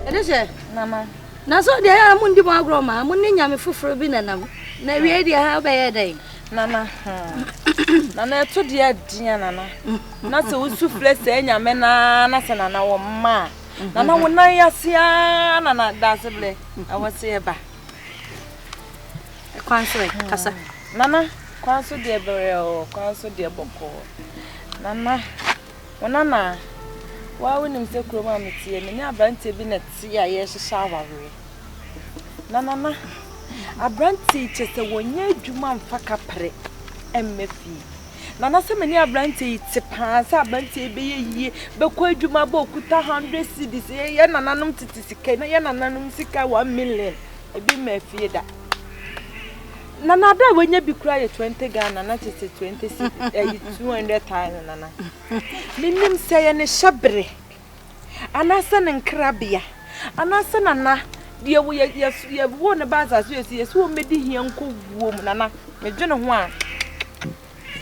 ɛde hyɛ mama na so deɛ ɛyɛ a mondi mo agorɔ ma mo ne nyame foforɔ bi nanam na awie deɛ ha wobɛyɛ dɛn nana hmm. nana ɛto deɛ adea nana na sɛ wosu frɛ sɛ nyame naa na sɛ nana wɔ mma a nana wo nan ase a nana daase berɛ ɛwɔ sɛ yɛba Kwan so ɛ, kasa. Nana, kwan so deɛ berɛoo, kwan so deɛ bɔkɔɔ. Nana, wo nana, woa wonim sɛ kurom a meteɛ, me ne aberanteɛ bi na ɛte a yɛrehyehyɛ awareɛ. Na nana, aberanteɛ yi kyerɛ sɛ wɔnyɛ adwuma mfa kapre mmɛ fie. Nana sɛ me ne aberanteɛ yi te paa sɛ aberanteɛ yi bɛyɛ yie bɛkɔ adwuma bɔ okuta hundred cedis yɛ yɛ nananom tete sika na yɛ nananom sika one million ebi mma afie da nana ada a wanya bi kura yɛ twenty ghana na tete twenty cedis ɛyi two hundred thousand nana menim sɛ yɛ ne hyɛ bere. anaasɛ ne nkrabea, anaasɛ nana deɛ wo yɛ yɛ yɛwoo no ba asase yɛ so yɛsi wɔn bɛdi hia nkɔ wuo mu nana medwene ho a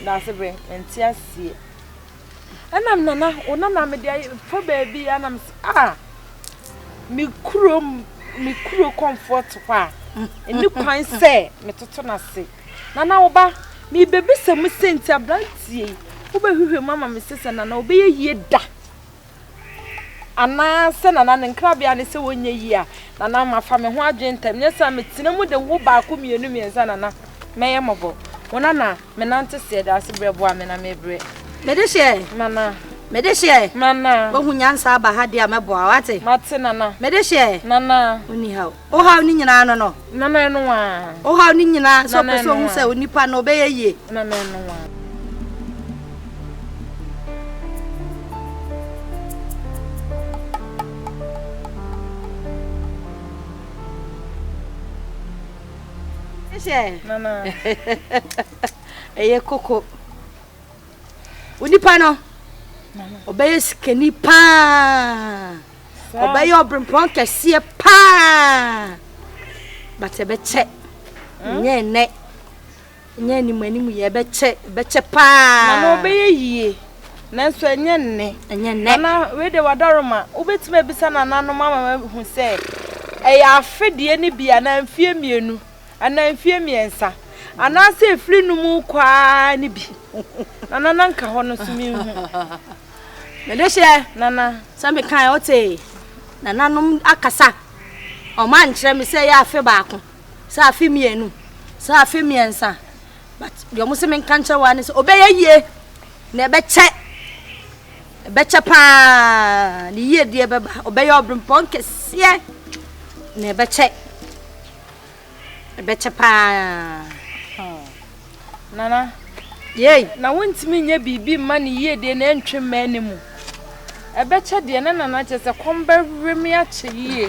daase bɛ nte aseɛ ɛnam nana wo nana mede ayɛ fa baabi a nam sɛ a ah, me kuro me kuro comfort hɔ a ɛni kwan sɛ metoto no ase nana wo ba mebɛbisa mu sɛ nti aberanteɛ yi wobɛhwehwɛ mu ama me sɛ sɛ nana wobɛyɛ yie da Anaa sɛ Nana ne nkrabea ne sɛ wɔnyɛ yie a, Nana mafa me ho adwene ntɛm, nyɛ saa metena mu de wo baako mmienu mmiɛnsa Nana mɛyɛ mmɔbɔ. Wo Nana menante seɛ daa se berɛ boa me na mebrɛ. Mede hyeɛ. Nana. Mede hyeɛ. Nana. Woahu nyansa aba ha deɛ a mɛboa wo, woate? Mate Nana. Mede hyeɛ. Nana. Wonni ha o. Ohaw no nyinaa no no. Na na ɛno ara. Ohaw no nyinaa sɛ ɔpɛ sɛ ohu sɛ onipa no ɔbɛyɛ yie. Na na ɛno ara. Na na. Ɛyɛ koko. Onipa no ɔbɛyɛ sikani paa. ɔbɛyɛ ɔbrempɔn kɛseɛ paa but ɛbɛkyɛ nyɛ ɛnɛ nyɛ anim anim yɛ ɛbɛkyɛ ɛbɛkyɛ paa mama ɔbɛyɛ yie nanso ɛnyɛ nnɛ ɛnyɛ nnɛ nana wei de wadaroma wobɛtumi abisa nananom ama mahu sɛ ɛyɛ afedeɛ no bi anaa mfeɛ mmienu anaa mfeɛ mmiɛnsa anaasɛ ɛfiri no mu kɔ ara no bi nana na nka hɔ no so menhu Mede hyɛ Nana sɛ mekae ɔte nananom akasa a wɔn ankyerɛ me sɛ ɛyɛ afe baako, sɛ afe mmienu, sɛ afe mmiɛnsa. But deɛ wɔn sɛ menka nkyerɛ wɔn ne sɛ ɔbɛyɛ yie na ɛbɛkyɛ ɛbɛkyɛ paa ne yie deɛ bɛba ɔbɛyɛ ɔbrempɔn kɛseɛ na ɛbɛkyɛ. ɛbɛkyɛ paa hmm Nana yei na wontumi nyɛ biribi mma ne yiedie na ɛntwe mmaa ne mu ɛbɛkyɛ deɛ na Nana kyɛ sɛ kɔm bɛwe me akyɛ yie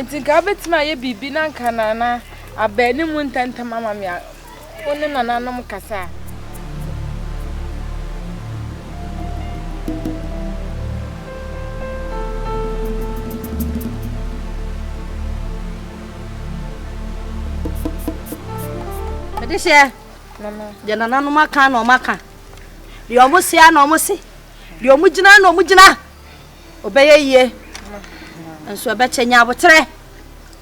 nti nka wobɛtumi ayɛ biribi na nka Nana abaa ne mu ntɛntɛm ama me Wo ne nananom kasa. Mede hyɛ deɛ nananom aka na ɔmo aka deɛ ɔmo se a na ɔmo se deɛ ɔmo gyina na ɔmo gyina ɔbɛyɛ yie nso ɛbɛkyɛ nya aboterɛ.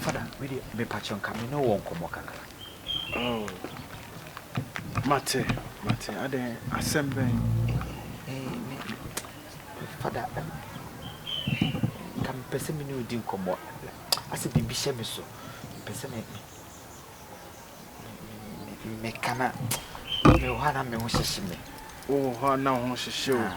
Father me deɛ mepakyɛw nka me ne wɔ nkɔmɔ kakra. Oh mate mate adɛn asɛm bɛn. Eh me father ɛm nka me pɛ sɛ me ne wo di nkɔmɔ asɛ biribi hyɛ me so me pɛ sɛ me me me ka na me wɔ hɔ a na me ho hyehye me. Wowɔ hɔ a na ho hyehye o. Ah.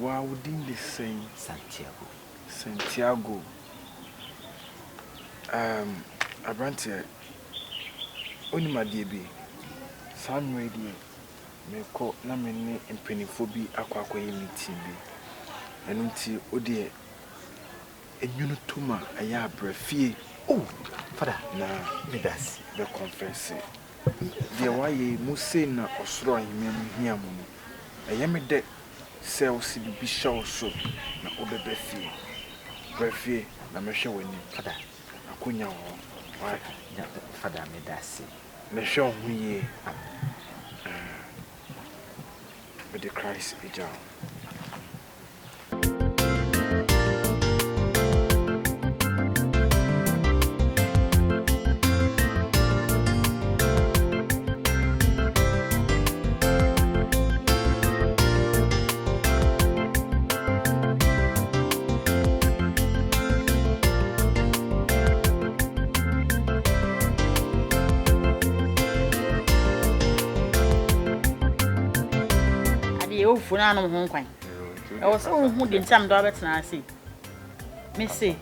Waa wo din de sɛn? Santiago. Santiago. Ɛɛm, aberanteɛ, wonim adeɛ bi? Saa mmerɛ yi deɛ, merekɔ na me ne mpanimfoɔ bi akɔ akɔyɛ meeting bi. Ɛno nti, wo deɛ, nwunu to mu a, ɛyɛ a bra fie. Oh, Fada, meda ase. Na bɛkɔnfɛse. Deɛ woayɛ yi, mo sei na ɔsoro ahemman mu hia mo no. Ɛyɛ me dɛ. Sɛ ɔse biribi hyɛ wo so na wobɛba fie, bra fie na mɛhwɛ w'anim. Fada. Akonya wɔ hɔ, w'ate? Nya, Fada, medase. Na hwɛ wo ho yie. Amen. Ɛɛ, mede Christ agya wo. adeɛ ɔfo no anom ho nkwan ɛwɔ sɛ wohu de nti a mede wabɛtena ase mese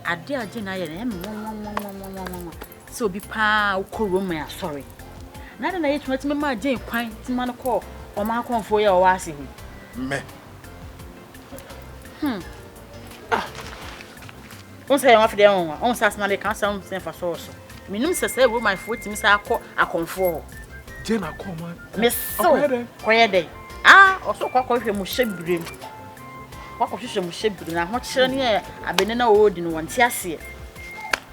adeɛ a gye na ayɛ no ɛmɛ sɛ obi paa a ɔkɔ Roman asɔre. Na adɛn na Yesu atumi maa Jane kwan tumi ma no kɔɔ ɔman kɔmfoɔ yi a ɔwɔ ase hɔ? Mɛ. Hmm. Ah. Wɔn sɛ yɛn afei deɛ wɔn wɔn sɛ asena de ka asɛm sɛ nfa sɔɔ so. Minum sɛ sɛ Romanfoɔ tumi sɛ akɔ akɔmfoɔ hɔ. Jane akɔ ɔman. Mesew. Ɔkɔyɛ dɛ. Kɔyɛ dɛ. Ah, ɔso kɔ akɔhwɛ mu hyɛ bire mu. Wakɔhwehwɛ mu hyɛ bire na ahokyerɛ ne yɛ abɛnɛ na ɔredi no wɔn ti aseɛ.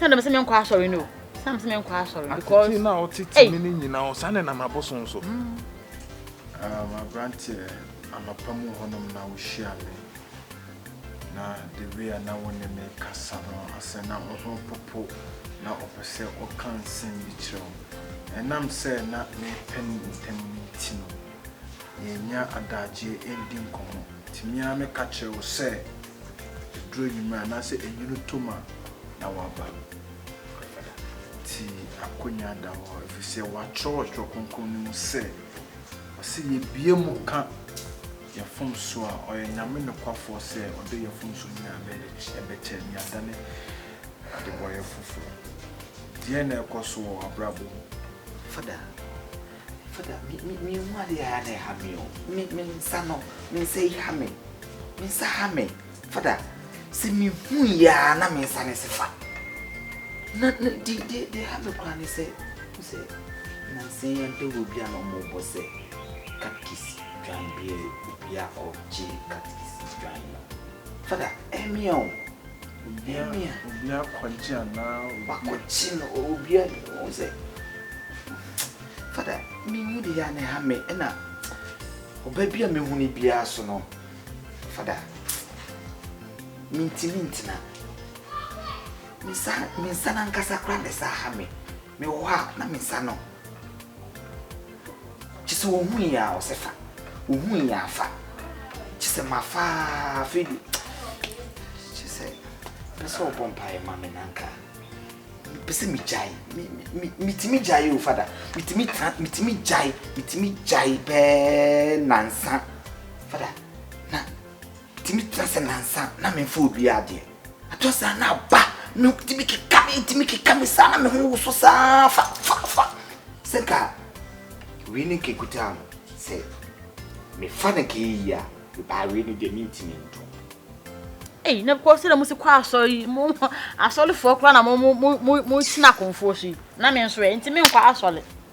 sɛ na mese menkɔ asɔre no sɛ na mese menkɔ asɔre because na ɔtete me no nyinaa ɔsa ne nam abosom so mm. um, aberanteɛ anɔpa mu hɔnom na wohyia me na the way a na wo ne me kasa no asɛ na wo ho popo na ɔpɛ sɛ ɔka nsɛm bi kyerɛ wo ɛnam sɛ na mepɛ no ntam no nti no yɛnnya adagyeɛ ɛndi nkɔmmɔ. Nti me ara meka kyerɛ wo sɛ ɛduru anwummerɛ anaasɛ ɛnwunu tɔ mu a na woaba. Nti akwannya da hɔ ɛfiri sɛ wɔatwerɛ wɔ Twerɛ Kronkron no mu sɛ, ɔse yɛbue mu ka yɛn mfomsoɔ a, ɔyɛ Nyame nokwafoɔ sɛ ɔde yɛn mfomsoɔ nyinaa bɛkyɛ na yɛadane adebɔyɛ foforɔ. Deɛn na ɛrekɔ so wɔ w'abrabɔ mu? Fada. Fada, me me me hu ade a na ɛha me o. Me me nsa no, me nsa yi ha me. Me nsa ha me. Fada, sɛ me hu yɛ a na me nsa ne se fa. Na na di di di ha me kura ne sɛ, me sɛ na nse yɛn pɛ wɔ bi a na ɔmo bɔ sɛ katkisi dwan bie obi a ɔgye katkisi dwan no. Fada, ɛmi o. Nehemia. Obi akɔgye anaa obi. Wakɔgye no or obi a ɔhu sɛ fada me hu de yɛ a na ɛha me ɛna ɔba bi a mehu no biara so no fada mentumi ntena me nsa no ankasa koraa na ɛsa ha me mewɔ hɔ a na me nsa no Kyesɛ ohui a ɔsɛ fa, ohui a fa. Kyesɛ ma fa afei de kyesɛ pɛ sɛ ɔbɔ mpaeɛ ma me nanka. Pɛ sɛ me gyae, metumi gyae o fada, metumi tra, metumi gyae, metumi gyae bɛɛ nansa. Fada, na metumi tra sɛ nansa na memfa obi adeɛ. Ɛtɔ saa na aba me tumi keka me tumi keka me saa na me ho woso saa fa fa fa sɛ nka wei ne kekuta no sɛ mefa no ka yi a mebaa wei ne deɛ mentumi nto Ei, na kɔ sɛ na mo si kɔ asɔre yi mo asɔrefoɔ koraa na mo mo mo mo tena akonfoɔ so yi na me nso ɛ nti menkɔ asɔre.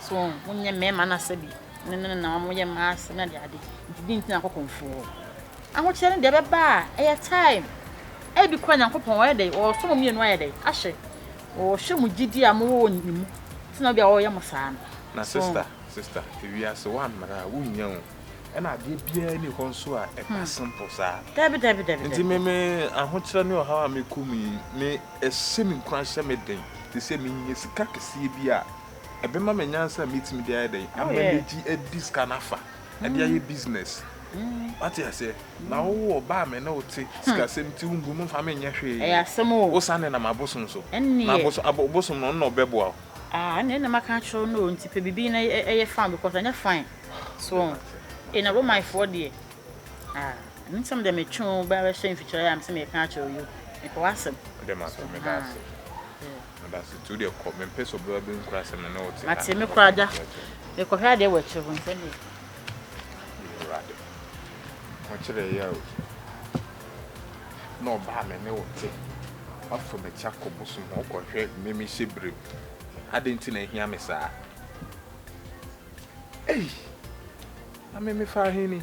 So wɔn nyɛ mmarima no asɛde ne no na wɔn yɛ mmaa asɛde na deade nti din nti na akɔ kɔnfoɔ ahokyerɛ ne deɛ ɛbɛba a ɛyɛ time ɛbi kora nyankopɔn wɔyɛ dɛ wɔsɔ mo mmienu ayɛ dɛ ahyɛ wɔhwɛ mo gyidi a mowɔ wɔ ne mu ti na obi a wɔyɛ mo saa no na sister sister ewiase wɔ mmara a wonnya o ɛna adeɛ biara ni hɔ nso a ɛba simple saa dabi dabi dabi nti me me ahokyerɛ ne ɔhaw a mekɔ mu yi me ɛhyɛ me nkuran hyɛ me den te sɛ menya sika kɛseɛ bi a ɛbɛma me nyansa a mɛtumi de ayɛ dɛn ama megye adi sika no afa ɛde ayɛ business wate aseɛ na wowɔ ɔba a me ne wo te sikasɛm ti wombu no mfa menyɛ hwee wosan de nam abosom so na abosom no ɔno na ɔbɛboa wo Ah, ne na maka akyerɛ no nti pɛ biribi na ɛyɛ fan because ɛnyɛ fan so ɛna romanfoɔ deɛ ah ɛno nsɛm deɛ metwe wo bɛhyɛ mfikyerɛ a mesɛ meyɛka akyerɛ yo mepɛ w'asɛm mede ma so meda ase Adasetu deɛ kɔ, mempɛ sɛ ɔbaa bi nkura sɛ me ne wo te ha. Mate, mekɔ ada. Mekɔhwɛ adeɛ wɔ akyire hɔ, nsɛm yɛ. Awurade, mokyerɛ yɛ o. Na ɔbaa me ne wo te. Woafa m'akyi akɔ bosom hɔ, wokɔhwɛ mmɛmi hyɛ berem. Adɛn nti na ahia me saa? Ei! Na me mefa ahe ni?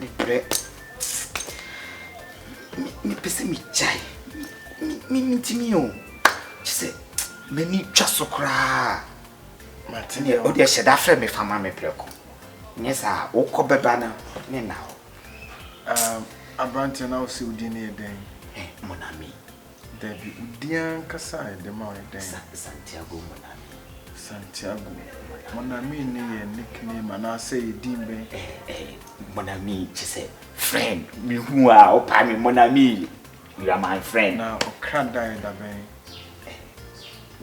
Mebrɛ. Mepɛ sɛ megyae. Mentumi o. Kyerɛ sɛ m'ani twa so koraa. Matene o deɛ hyɛ da frɛ me fa ma me prɛko. Nyɛ saa wokɔ bɛba no ne na hɔ. Aberanteɛ na wo sɛ wo din ne yɛ dɛn? Monami. Dabi, wo din ankasa a yɛde ma wo ne dɛn? Sa Santiago Monami. Santiago Monami ne yɛ nickname anaasɛ yɛ din bɛn? Ɛɛ, ɛɛ, Monami kyerɛ sɛ friend. Mehu a ɔpaa me Monami. You are my friend. Na ɔkra da yɛ da bɛn? Ɛɛ,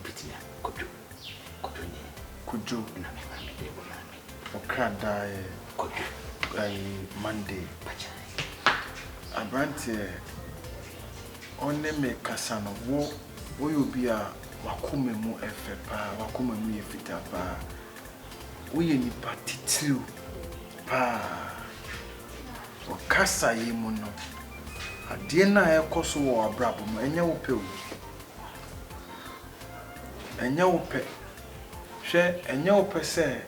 wobɛtumi akɔdwo. Kuduni. Kudwo. Na me maame de o maame. Okra dae. Kudwo. Ayi Monday. Pacha. Abranteɛ ɔne me kasa no wo woyɛ obi a wakoma mu ɛfɛ paa wakoma mu yɛ fitaa paa woyɛ nipa titiriw paa ɔkasa yi mu no adeɛ no a ɛkɔ so wɔ abrabɔ mu ɛnyɛ wo pɛ o Ɛnyɛ wo pɛ. Hwɛ ɛnyɛ wo pɛ sɛ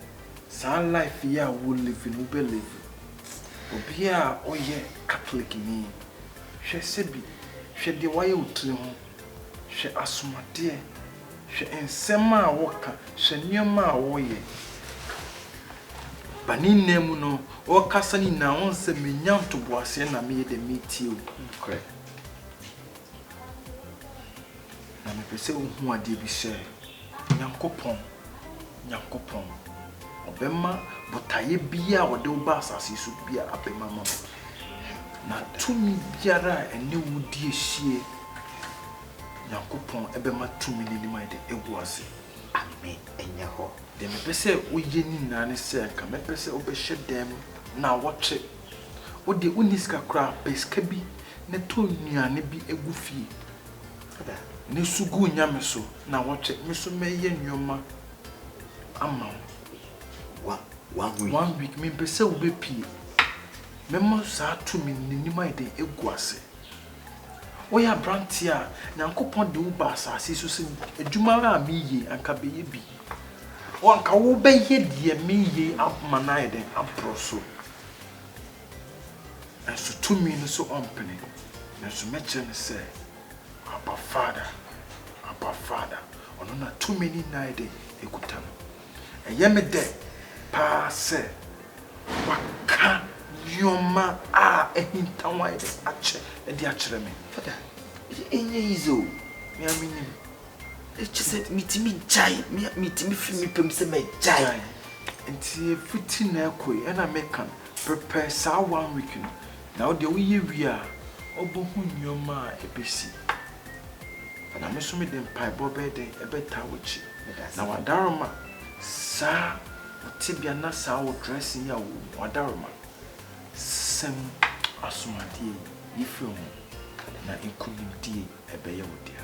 saa life yi a wo live no wo bɛ live. Obia a ɔyɛ catholic ni hwɛ sɛbi hwɛ deɛ wayɛ wo tiri ho, hwɛ asomadeɛ, hwɛ nsɛm a wo ka, hwɛ nneɛma a wo yɛ. Ba ne nna mu no wo kasa no nyinaa wo nsɛ me nya ntoboaseɛ na me yɛ deɛ me tie wo. Na mepɛ sɛ wohu adeɛ bi sɛ, Nyankopɔn, Nyankopɔn, ɔbɛma botaeɛ biaa a ɔde wo ba asase yi so biaa abɛmu ama wo, na tumi biara a ɛne wo di asie, Nyankopɔn bɛma tumi no anim ayɛ dɛ agu ase. Amen. Ɛnyɛ hɔ. Deɛ mepɛ sɛ woyɛ ne nyinaa ne sɛ, nka mɛpɛ sɛ wobɛhyɛ dɛm nnawɔtwe Wo deɛ wonni sika koraa, pɛ sika bi na tɔ nnuane bi gu fie na su gu wo Nyame so na wɔtwe, me nso mɛyɛ nnoɔma ama wo. One week? One week, mempɛ sɛ wobɛpie. Mɛma saa tumi no n'anim ayɛ dɛn agu ase. Woyɛ aberanteɛ a, Nyankopɔn de wo baa asase so sɛ adwuma ara a meyie anka bɛyɛ bi. Wo anka wo bɛyɛ deɛ meyie ama no ayɛ dɛn aboro so. Nanso tumi no so ɔmpene. Nanso mɛkyerɛ no sɛ, Abba Father, Abba Father. Ɔno na tumi ne nna ayɛ dɛn ɛkuta no. Ɛyɛ me dɛ paa sɛ wɔaka nneɛma a ahintaw a yɛde akyɛ de akyerɛ me. Fada, ɛnyɛ easy o, me ara minim. Kyerɛ sɛ mitumi gyae, me a mitumi fi me pɛ mu sɛ mɛgyae. Nti fiti na ɛkɔ yi, ɛna meka no, prepare saa one week no, na wo deɛ woyɛ wie a, wobɛhu nneɛma a ɛbɛsi. Fada, me nso mede mpaebɔ bɛyɛ dɛn bɛtaa w'akyi. Na w'adaroma, saa wo tebea na saa wo dressing yi a wo wɔ mu, w'adaroma, sesa mu, asomadeɛ yi, yi firi wo ho, na nkunimdie yi, ɛbɛyɛ wo dea.